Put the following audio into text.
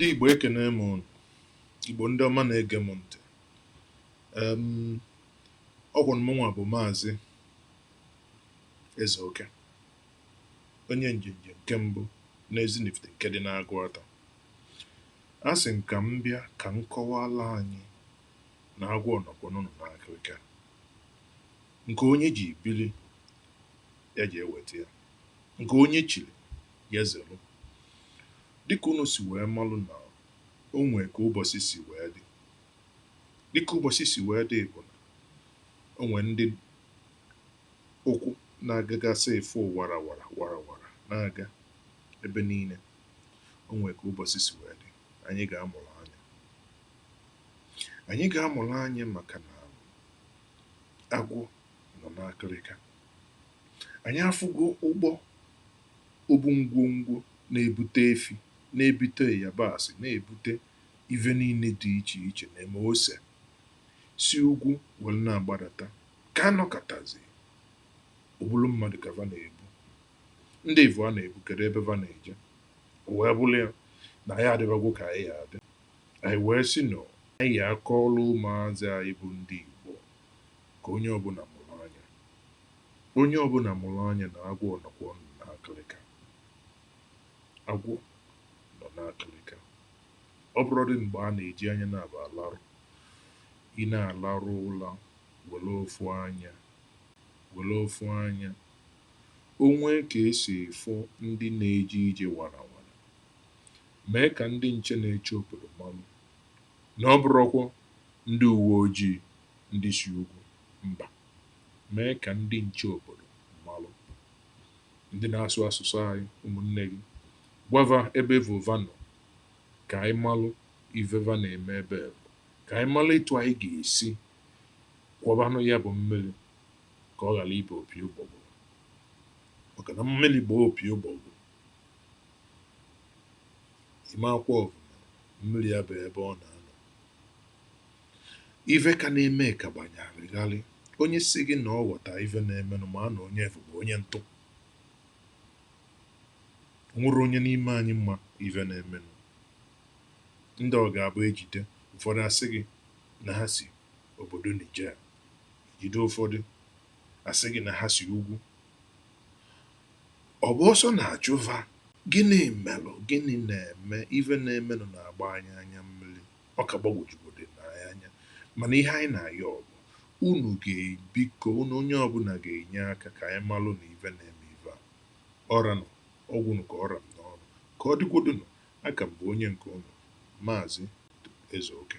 ndị Igbo ekenee m unu Igbo ndị ọma na-ege m ntị ọ kwanụ mụnwa bụ maazị Eze Oke onye njenje nke mbụ n'Ezinifite nke dị n'Agụata asị m ka m bịa ka m kọwala anyị na agwọ nọkwanụ n'akịrịka. Nke onye ji biri, ya jee weta ya. Nke onye chiri, ya zelụ. Dịka unu si wee malụ na o nwee ka ụbọsị si wee dị. Dịka ụbọsị si wee dị bụ na o nwee ndị ụkwụ na-agagasị ịfụ warawara warawara na-aga ebe niile. O nwee ka ụbọsị si wee dị. Anyị ga-amụrụ anya. Anyị ga-amụrụ anya maka na agwọ nọ n'akịrịka. Anyị afụgo ụgbọ obu ngwongwo na-ebute efi, na-ebute ịyabasị, na-ebute ive niile dị iche iche na eme ose si ugwu were na-agbadata. Ka a nọkatazie, ọ bụrụ mmadụ ka va na-ebu. Ndị avụ a na-ebu, kedu ebe va na-eje? O wee bụrụ ya na anyị adịbagwo ka anyị ya-adị. Anyị wee sị na anyị akọọla ụmụazị anyị bụ ndị Igbo ka onye ọbụla mụrụ anya. Onye ọbụla mụrụ anya na agwọ nọkwanụ n'akịlịka. Agwọ nọ n'akịlịka. Ọ bụrọdị mgbe a na-eji anya naabọ alarụ. Ị na-alarụ ụla were ofu anya were ofu anya. O nwee ka e si fụ ndị na-eje ije warawara, Mee ka ndị nche na-eche obodo marụ na ọ bụrọkwa ndị uwe ojii ndị si ugwu mba. Mee ka ndị nche obodo marụ. Ndị na-asụ asụsụ anyị, ụmụnne gị. Gwa va ebe avụ va nọ. Ka anyị marụ ive va na-eme ebe avụ. Ka anyị marụ etu anyị ga-esi kwọbanụ ya bụ mmiri ka ọ ghara ịba opi ụgbọgụrụ. Maka na mmiri baa opi ụgbọgụrụ, ị ma-akwọpụ mmiri ya bụ ebe ọ na-anọ ive ka na-eme ka gbanyarịgharị onye sị gị na ọ ghọta ive na-emenụ maa na onye avụ bụ onye ntụ o nwerọ onye n'ime anyị ma ive na-emenụ ndị ọ ga-abụ e jide ụfọdụ a sị gị na ha si obodo Niger e jide ụfọdụ a sị gị na ha si ugwu Ọ bụ ọsọ na-achụ fa. Gịnị melụ? Gịnị na-eme? Ife na-emenụ na-agba anyị anya mmiri. Ọ ka gbagwojugodu anyị anya. Mana ihe anyị na-ayọ bụ, unu ga, biko, unu onye ọbụla ga-enye aka ka anyị malụ na ife na-eme ife a. Ọ ranụ, ọ gwụnụ ka ọ ra m n'ọnụ. Ka ọ dịgodunụ, a ka m bụ onye nke unu, Maazị Ezeoke.